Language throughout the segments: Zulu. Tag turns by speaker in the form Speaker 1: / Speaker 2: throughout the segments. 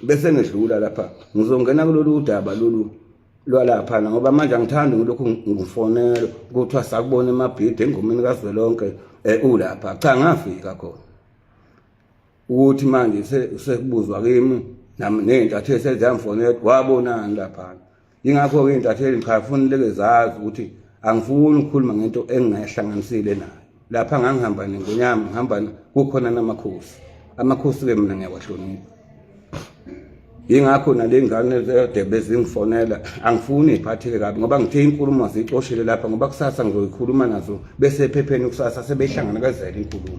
Speaker 1: bese ngidlula lapha ngizongena kulolu udaba lolu lwalaphana ngoba manje angithandi ngilokhu ngifonela kuthiwa sakubona emabhidi engomeni kazwelonke um ulapha cha ngafika khona ukuthi manje sekubuzwa kimi nami ney'ntathu eseziyamfonela wabonani laphana yingakho-ke iy'ntatheli ngichafuna leke zazi ukuthi angifuni ukukhuluma ngento engingayihlanganisile nayo lapha ngangihamba nengonyama ngihamba kukhona namakhosi amakhosi-ke mina ngiyawahlonipha yingakho nale ngane zedebe zingifonela angifuni iphatheke kabi ngoba ngithe inkulumo ziyicoshele lapha ngoba kusasa ngizoyikhuluma nazo bese ephepheni kusasa sebehlangana kazela inkulumo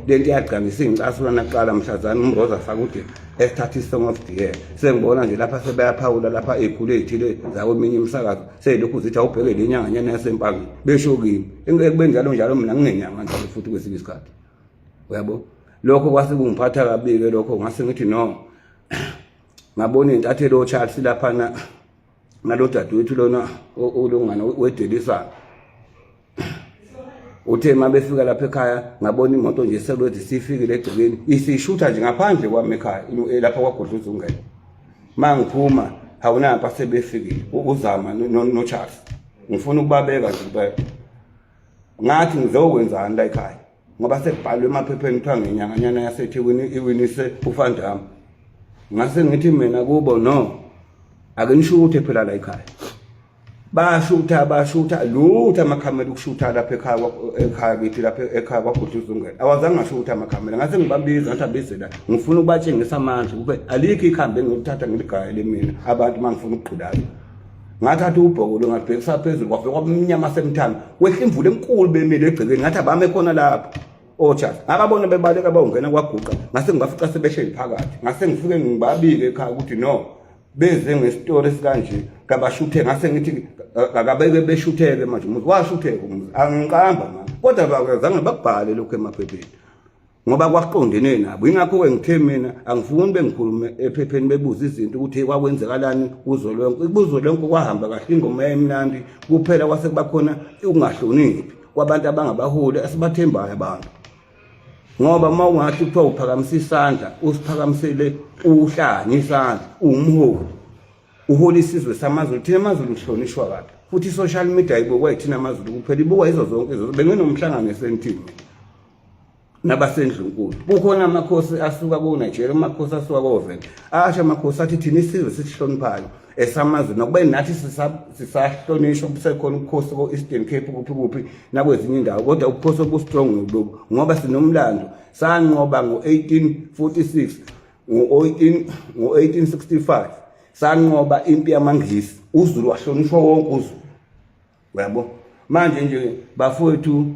Speaker 1: le nto iyagcangisa ingicasula naqala mhlazana umroza afake udebe esithatha isong of the year sengibona nje lapha sebayaphawula lapha ey'khulu ey'thile zakweminye imisakazo seyilokhu zithi awubheke le nyanganyana yasempangeni besho kimi ekube njalo njalo mina nginenyanga njalo futhi kwesinye isikhathi uyabo lokho kwase kungiphatha kabi-ke lokho ngase ngithi no ngabona iy'ntathelo charles laphana ngalo dadewethu lona ulungane wedelisayo uthe uma befika lapha ekhaya ngabona imoto nje selothi sifikile egcekeni isishutha nje ngaphandle kwami ekhaya eh, lapha kwagodla uzungela uma ngiphuma hawunapha sebefikile uzama nocharles ngifuna ukubabeka nje ngathi ngizokwenzani la ekhaya ngoba sekubhalwe emaphepheni kuthiwa ngenyanganyana yasethekwini iwinise ufandam ngase ngithi mina kubo no ake nishuthe phela la ekhaya bashutha bashutha lutho amakhamera ukushutha lapha ekhaya ekhaya kithi lapha ekhaya kwagudla uzungela awazange ashutha amakhamera ngase ngibabiza ngathi abize la ngifuna ukubatshengisa manje kube alikho ikhambi engilithatha ngiligayele mina abantu mangifuna ukugqulayo ngathatha ubhokolo ngabhekisa phezulu kwafika kwamnyama semthanga kwehla imvula enkulu bemile egcekeni ngathi abame khona lapho otshazi ngababona bebaleka bawungena kwaguqa ngase ngibafica sebehleli phakathi ngase ngifike ngibabike ekhaya ukuthi no beze ngesitoro esikanje kabashuthe ngase ngithi akabeke beshutheke manje umuzi washutheka umuzi angiqamba manje kodwa bakwazange bakubhale lokhu emaphepheni ngoba kwaqondenwe nabo ingakho-ke ngithe mina angifuni bengikhulume ephepheni bebuza izinto ukuthi kwakwenzekalani kuzo lonke kuzo lonke kwahamba kahle ingoma yayimnandi kuphela kwase kuba khona ukungahloniphi kwabantu abangabaholi esibathembayo abantu ngoba uma ungathi kuthiwa uphakamisa isandla usiphakamisele uhlanye isandla uwumholi uhola isizwe samazulu thina amazulu uhlonishwa kabi futhi i-social media ibukwa yithina amazulu kuphela ibukwa yizo zonke izo benginomhlangano esentini nabasendlunkulu kukhona amakhosi asuka koNigeria amakhosi asuka koVenda asho amakhosi athi thina isizwe sisihloniphayo esamazwe nokuba nathi sisahlonishwa kusekhona ubukhosi ko-eastern cape kuphi kuphi nakwezinye indawo kodwa ubukhosi obustrong lobu ngoba sinomlando sanqoba ngo-1846 ngo-1865 sanqoba impi yamangisi uzulu wahlonishwa wonke uzulu uyabo manje nje bafowethu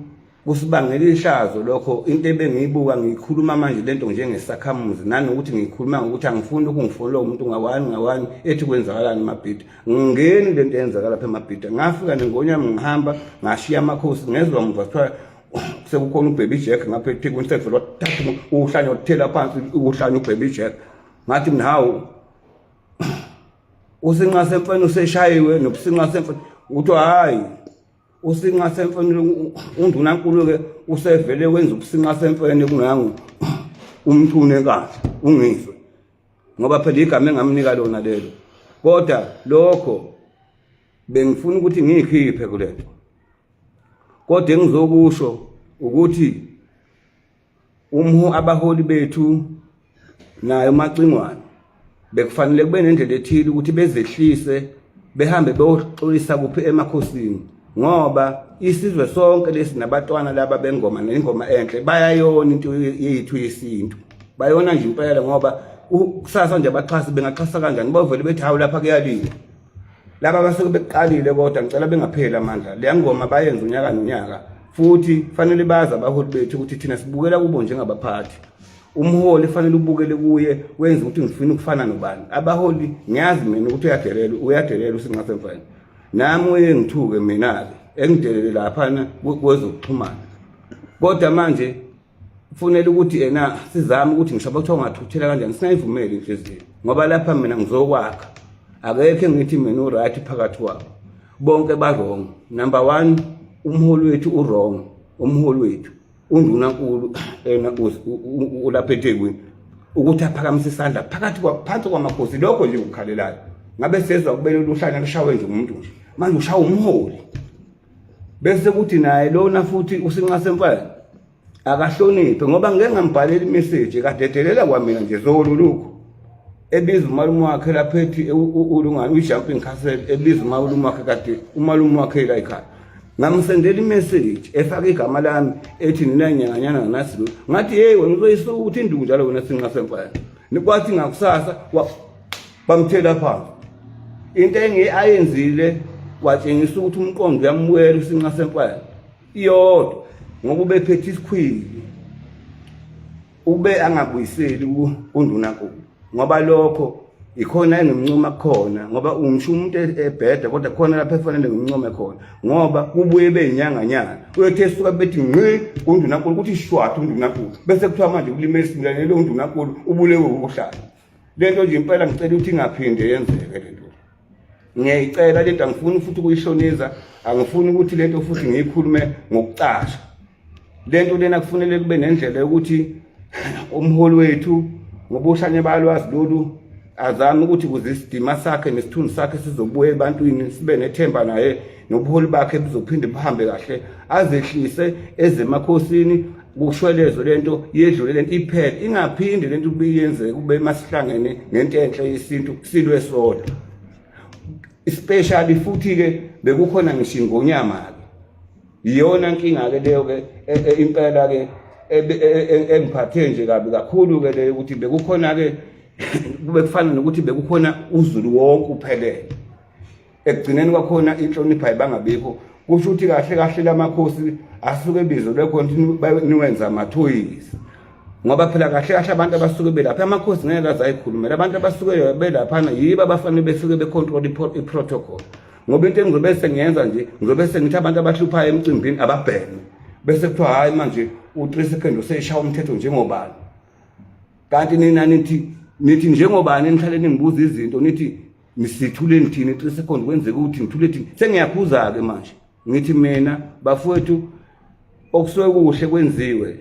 Speaker 1: kusibangela ihlazo lokho into ebengiyibuka ngiyikhuluma manje lento njengesakhamuzi nanokuthi ngiyikhuluma ngokuthi angifuni lokhu ngifonela umuntu ngawani ngawani ethi kwenzakalani emabhida ngingeni lento eyenzakala lapha emabhida ngafika nengonyami ngihamba ngashiya amakhosi ngezwa mva kuthiwa sekukhona ubhebhi jack ngapha ethekwini sekuvele wathatha uhlanya wathela phansi uhlanya ubhebhi jack ngathi mnawu usinqa semfene useshayiwe nokusinqa semfene kuthiwa hhayi usinqa semfene undunankulu-ke usevele wenza ukusinqa semfene kungangu umthune enkandla ungizwe ngoba phela igama engamnika lona lelo kodwa lokho bengifuna ukuthi ngiyikhiphe kule nto kodwa engizokusho ukuthi Umhu abaholi bethu nayo macingwane bekufanele kube nendlela ethile ukuthi bezehlise behambe beyoxolisa kuphi emakhosini ngoba isizwe sonke lesi nabatwana laba bengoma nengoma enhle bayayona into yethu yesintu bayona nje impela ngoba kusasa nje abaxhasi bengaxhasa kanjani bovele bethi hawu lapha kuyaliwa laba basuke bekuqalile kodwa ngicela bengapheli amandla leya ngoma bayenza unyaka nonyaka futhi fanele bazi abaholi bethu ukuthi thina sibukela kubo njengabaphathi umholi fanele ubukele kuye wenze ukuthi ngifuna ukufana nobani abaholi ngiyazi mina ukuthi uyadelela uyadelela usinqasemfana nami uye ngithuke mina-ke engidelele laphana kwezokuxhumana kodwa manje kufunela ukuthi yena sizame ukuthi ngisho kuthiwa ungathuthela kanjani singayivumeli inhliziyo ngoba lapha mina ngizokwakha akekho engithi mina uright phakathi kwabo bonke barong number one umholi wethu urong umholi wethu undunankulu ena ulapha ethekwini ukuthi aphakamise isandla phakathi phansi kwamakhosi lokho nje ukukhalelayo ngabe sezwa kubele luhlanya lushawe nje umuntu nje manje ushawa umholi bese kuthi naye lona futhi usinxa semfana akahloniphe ngoba ngeke ngambhalela imeseji kadedelela kwamina nje zolo lokhu ebiza umalume wakhe lapha ethi ulungani uyi-jumping castle ebiza umalume wakhe kade umalume wakhe la ekhaya ngamsendela imeseji efake igama lami ethi ninanyanganyana nganasi ngathi yeyi wena uzoyisukuthi induku njalo wena sinxa semfana kwathi ngakusasa bamthela phansi into engi ayenzile watshengisa ukuthi umqondo uyamwela isinqa senkwela iyodwa ngoba ubephethe isikhwili ube angabuyiseli kundunankulu ngoba lokho ikhona enomncoma khona ngoba ungisho umuntu e-, ebheda kodwa khona lapho efanele ngimncome khona ngoba kubuye beyinyanganyana uyothe esuka bethi nqi kundunankulu ukuthi shwatha undunankulu bese kuthiwa manje ukulima esibulalelo undunankulu ubulewe ukuhlala lento nje impela ngicela ukuthi ingaphinde yenzeke lento ngiyayicela lento angifuni futhi ukuyishonisa angifuni ukuthi lento futhi ngiyikhulume ngokucasha lento lena kufanele kube nendlela yokuthi umholi wethu ngobushanye balwazi lolu azame ukuthi kuze isidima sakhe nesithunzi sakhe sizobuya ebantwini sibe nethemba naye nobuholi bakhe buzophinde buhambe kahle azehlise ezemakhosini kushwelezo lento yedlule lento iphele ingaphinde lento kube yenzeke kube masihlangene nento enhle yesintu silwe sodwa especially futhi ke bekukhona ngisho ingonyama ke iyona inkinga ke leyo ke e, e, impela ke e, engiphathe nje kabi kakhulu ke leyo ukuthi bekukhona ke kube kufana nokuthi bekukhona uzulu wonke uphelele ekugcineni kwakhona inhlonipha ibangabikho kusho ukuthi kahle kahle lamakhosi asuke ebizelwe khona ukuthi niwenza amathoyisa ngoba phela kahle kahle abantu abasuke belapha amakhosi ngeke aze ayikhulumela abantu abasuke belaphana yibo abafanele besuke becontrol i-protocol ngoba into engizobe sengiyenza nje ngizobe sengithi abantu abahluphayo emcimbini ababhene bese kuthiwa hhayi manje u-three second useyishaya umthetho njengobani kanti nina nithi nithi njengobani nihlale ningibuza izinto nithi ngisithuleni thina i-three second kwenzeka ukuthi ngithule thina sengiyakhuza-ke manje ngithi mina bafowethu okusuke kuhle kwenziwe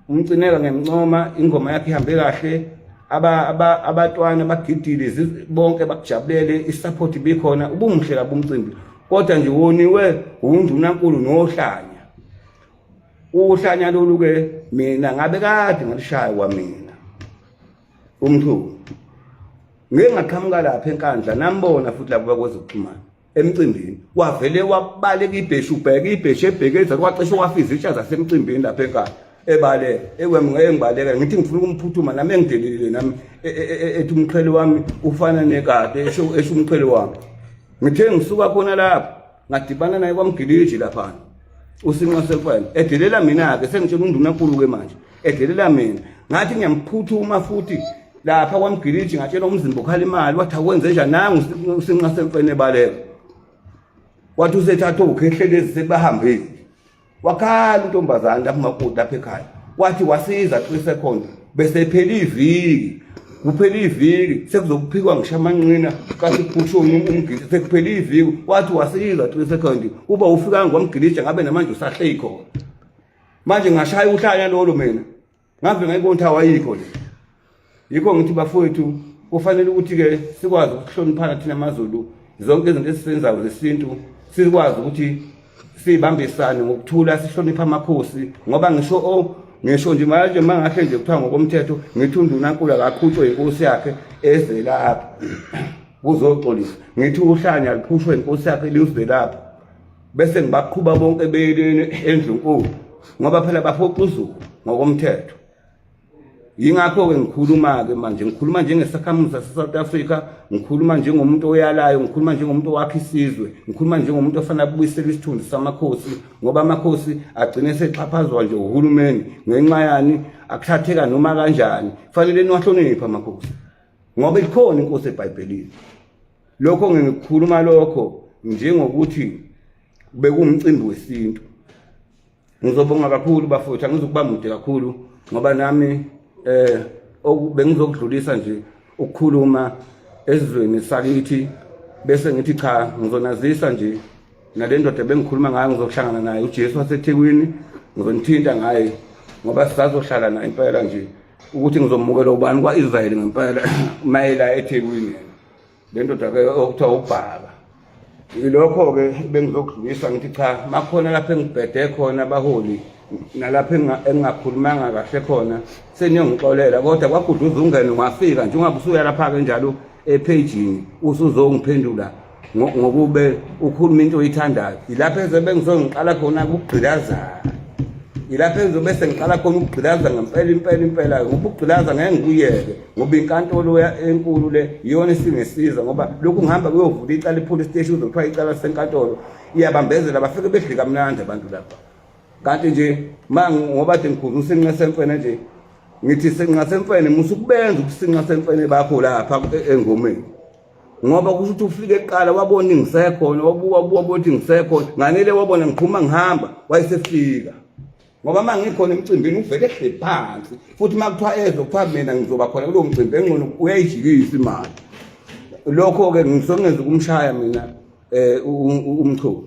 Speaker 1: umcineka ngemncoma ingoma yakhe ihambe kahle abatwana bagidile bonke bakujabulele i-support ibikhona ubumuhle kabi umcimbi kodwa nje woniwe wundunankulu nohlanya uhlanya lolu-ke mina ngabe kade ngalishaya kwamina umthungo ngeke ngaqhamuka lapha enkandla nambona futhi labo bakwazi ukuxhumana emcimbini wavele wabaleka ibheshu ubheke ibheshu ebhekeza kwacishe wafiza itsha zasemcimbini lapha enkandla ebaleka ekwem ngeke ngibaleka ngithi ngifuna ukumphuthuma nami engidelelile nami e, e, e, ethi umqhele wami ufana nekade esho umqhele wami ngithe ngisuka khona lapho ngadibana naye kwamgiliji laphana usinqa sekwena edelela mina-ke sengitshela undunankulu-ke manje edelela mina ngathi ngiyamphuthuma futhi lapha kwamgiliji ngatshela umzimba okhala imali wathi akwenze njani nangu usinqa sekwena ebaleka wathi usethatha ukhehlelezi sebahambile wakhala untombazane lapho makoti lapha ekhaya wathi wasiza three seconds bese phela iviki kuphela iviki sekuzokuphikwa ngisho amanqina kathi kuphushe umgidi sekuphela iviki wathi wasiza three seconds uba ufika ngomgilija ngabe namanje usahlei khona manje ngashaya uhlanya lolo mina ngave ngayibona ukuthi awayikho nje yikho ngithi bafowethu kufanele ukuthi-ke sikwazi ukuhloniphana thina mazulu zonke izinto esizenzayo zesintu sikwazi ukuthi sibambisane ngokuthula sihloniphe amakhosi ngoba ngisho o ngisho nje manje mangahle nje kuthiwa ngokomthetho ngithi undunankulu akakhutshwe inkosi yakhe ezelapha kuzoxolisa ngithi uhlanya likhutshwe inkosi yakhe liwuzelapha bese ngibaqhuba bonke beyeleni endlunkulu ngoba phela baphoqa uzulu ngokomthetho yingakho-ke ngikhuluma-ke manje ngikhuluma njengesakhamuzi sase-south africa ngikhuluma njengomuntu oyalayo ngikhuluma njengomuntu owakha isizwe ngikhuluma njengomuntu ofanele abuyisele isithunzi samakhosi ngoba amakhosi agcine esexhaphazwa nje uhulumeni ngenxa yani akuthatheka noma kanjani fanele niwahloniphe amakhosi ngoba ikhona inkosi ebhayibhelini lokho ngikhuluma lokho njengokuthi bekuwumcimbi wesintu ngizobonga kakhulu bafowethu angizukuba mude kakhulu ngoba nami eh bengizokudlulisa nje ukukhuluma ezweni sakithi bese ngithi cha ngizonazisa nje nale ndoda bengikhuluma ngayo ngizohlangana naye uJesu waseThekwini ngizonithinta ngaye ngoba sisazohlala naye impela nje ukuthi ngizomukela ubani kwa-Israyeli ngempela mayela eThekwini le ndoda ke okuthiwa ubhaba ilokho-ke bengizokudlulisa ngithi cha makhona lapho engibhede khona abaholi nalapho engingakhulumanga kahle khona seniyongixolela kodwa kwaguduza ungene wafika njengoba usuya lapha-ke njalo ephejini usuzongiphendula ngokube ukhuluma into oyithandayo yilapho ezobe ngizongiqala khona ukugqilazana yilapho engizobe sengiqala khona ukugqilaza ngempela impela impela ngoba ukugqilaza ngeke ngikuyeke ngoba inkantolo enkulu le iyona esingesiza ngoba lokhu ngihamba kuyovula icala ipolice station uzokuthiwa icala senkantolo iyabambezela bafike bedli kamnandi abantu lapha kanti nje ma ngoba de ngikhulu usinqa semfene nje ngithi sinqa semfene musa ukubenza ukusinqa semfene bakho lapha e-, engomeni ngoba kusho ukuthi ufike eqala wabona ingisekhona wabuka wabuka ukuthi ngisekhona nganele wabona ngiphuma ngihamba wayesefika ngoba uma ngikhona emcimbini uvele ehle phansi futhi uma kuthiwa ezwe kuthiwa mina ngizoba khona kulowo mcimbi engcono uyayijikisa imali lokho-ke ngisongenza ukumshaya mina um umchunu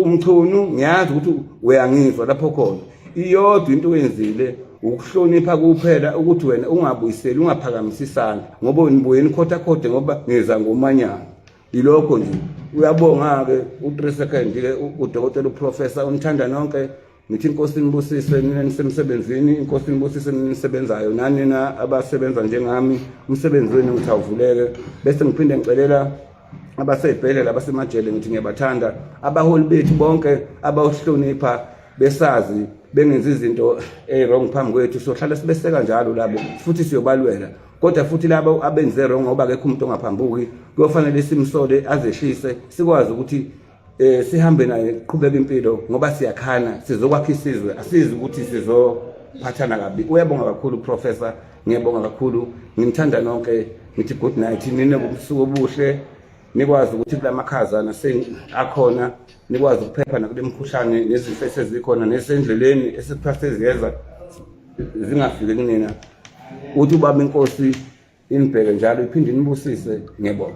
Speaker 1: umchunu ngiyazi ukuthi uyangizwa lapho khona iyodwa into oyenzile ukuhlonipha kuphela ukuthi wena ungabuyiseli ungaphakamise isandla ngoba nibuye nikhothakhote ngoba ngiza ngomanyana yilokho nje uyabonga-ke u-three second-ke udokotela uprofesa unithanda nonke ngithi inkosi nibusise nina nisemsebenzini inkosi nibusise nina nisebenzayo nanina abasebenza njengami umsebenzi wenu ngithi awuvuleke bese ngiphinde ngicelela abasey'bhedlela abasemajele ngithi ngiyabathanda abaholi bethu bonke abawuhlonipha besazi bengenzi izinto ey-wrong phambi kwethu sohlala sibeseka njalo labo futhi siyobalwela kodwa futhi labo abenze wrong ngoba akekho umuntu ongaphambuki kuyofanele simsole azehlise sikwazi ukuthi eh sihambe naye qhubeka impilo ngoba siyakhana sizokwakha isizwe asizi ukuthi sizophathana kabi uyabonga kakhulu professor ngiyabonga kakhulu ngimthanda nonke ngithi good night nine ubusuku obuhle nikwazi ukuthi kulamakhaza nase akhona nikwazi ukuphepha nakulemkhuhlane nezifo esezikhona nesendleleni esiphathe ziyeza zingafiki kunina uthi ubaba inkosi inibheke njalo iphinde inibusise ngebona